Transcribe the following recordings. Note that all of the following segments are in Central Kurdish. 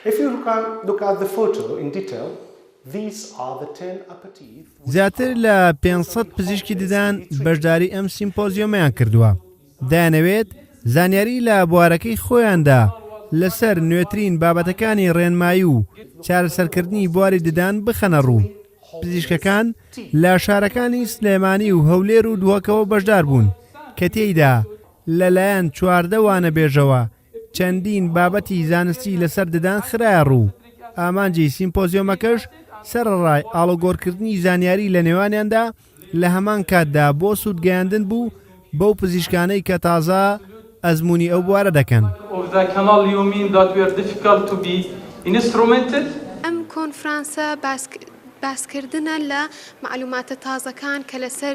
If you look at the photo in detail, these are the ten apathy. زیاتر لە پێنج سەد پزیشکی ددان بەشداری ئەم سیمپۆزیۆمیان کردووە دەیانەوێت زانیاری لە بوارەکەی خۆیاندا لەسەر نوێترین بابەتەکانی ڕێنمایی و چارەسەرکردنی بواری ددان بخەنە ڕوو پزیشکەکان لە شارەکانی سلێمانی و هەولێر و دووەکەوە بەشدار بوون کە تێیدا لەلایەن چواردەوانە بێژەوە چەندین بابەتی زانستی لەسەر ددان خرایە ڕوو، ئامانجی سیمپۆزیۆمەکەش سەرەڕای ئاڵوگۆڕکردنی زانیاری لە نێوانیاندا لە هەمان کاتدا بۆ سوودگەیاندن بوو بەو پزیشکانەی کە تازە ئەزموونی ئەو بوارە دەکەن. ئەم کۆنفرانسە باسکردنە لە مەعلووماتە تازەکان کە لەسەر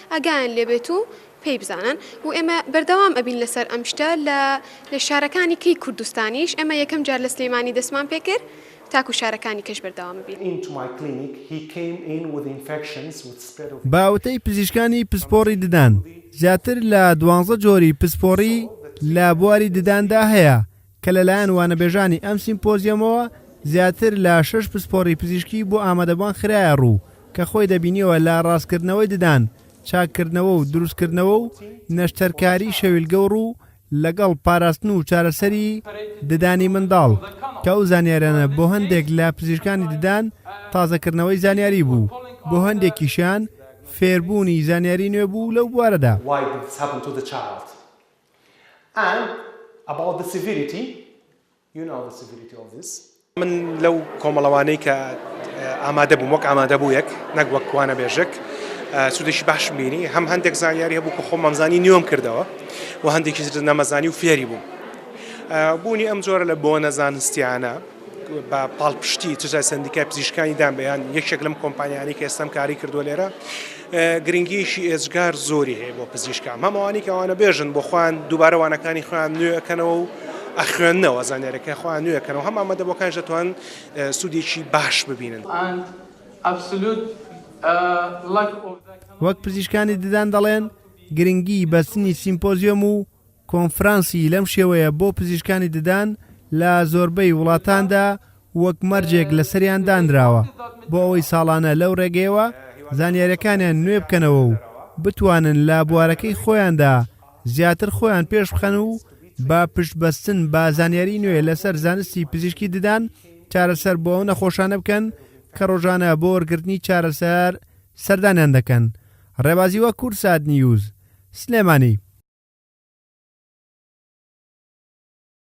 ئاگایان لێبێت و پێی بزانن و ئێمە بەردەوام ئەبین لەسەر ئەم شتە لە لە شارەکانی کەی کوردستانیش ئێمە یەکەم جار لە سلێمانی دەستمان پێ کرد تاکو شارەکانی کەش بەردەوام ئەبین. بە وتەی پزیشکانی پسپۆڕی ددان زیاتر لە دوانزە جۆری پسپۆڕی لە بواری دداندا هەیە، کە لەلایەن وانەبێژانی ئەم سیمپۆزیۆمەوە زیاتر لە شەش پسپۆڕی پزیشکی بۆ ئامادەبوان خرایە ڕوو کە خۆی دەبینیەوە لە ڕاستکردنەوەی ددان، چاککردنەوە و دروستکردنەوە و نەشتەرکاری شەویلگە و ڕوو، لەگەڵ پاراستن و چارەسەری ددانی منداڵ، کە ئەو زانیاریانە بۆ هەندێک لە پزیشکانی ددان تازەکردنەوەی زانیاری بوو، بۆ هەندێکیشیان فێربوونی زانیاری نوێ بوو لەو بوارەدا. and about the severity you know the severity of this من لەو کۆمەڵەوانەی کە ئامادە بووم وەک ئامادە بوو یەک نەک وەک کوانە بێژک سودێکی باش بینی هەم هەندێک زانیاری هەبوو کە خۆ مەمزانی نیوەم کردەوە و هەندێکی نەمەزانی و فێری بووم بوونی ئەم جۆرە لە بۆ نەزانستیانە بە پاڵپشتی چ جای سەندیکای پزیشکانی دام بەیان یەکێک لەم کۆمپانیانی کە ئێستام کاری کردو لێرە گرنگیشی ئێجگار زۆری هەیە بۆ پزیشکان هەمووانی کەوانە بێژن بۆ خوان دووبارە وانەکانی خوان نوێەکەنەوە و ئەخوێندنەوە زانیارەکە خوان نوێەکەنەوە هەم ئامادە بۆکان دەتوان سوودێکی باش ببینن. وەک پزیشکانی ددان دەڵێن گرنگی بەستنی سیمپۆزیۆم و کۆنفرانسی لەم شێوەیە بۆ پزیشکانی ددان لە زۆربەی وڵاتاندا وەک مەرجێک لەسەریان دانراوە بۆ ئەوەی ساڵانە لەو ڕێگەیەوە زانیاریەکانیان نوێ بکەنەوە و بتوانن لە بوارەکەی خۆیاندا زیاتر خۆیان پێش بخەن و بە پشت بەستن بە زانیاری نوێ لەسەر زانستی پزیشکی ددان چارەسەر بۆ ئەو نەخۆشانە بکەن کە ڕۆژانە بۆ وەرگرتنی چارەسەر سەردانیان دەکەن ڕێبازی وە کورسات نیوز سلێمانی.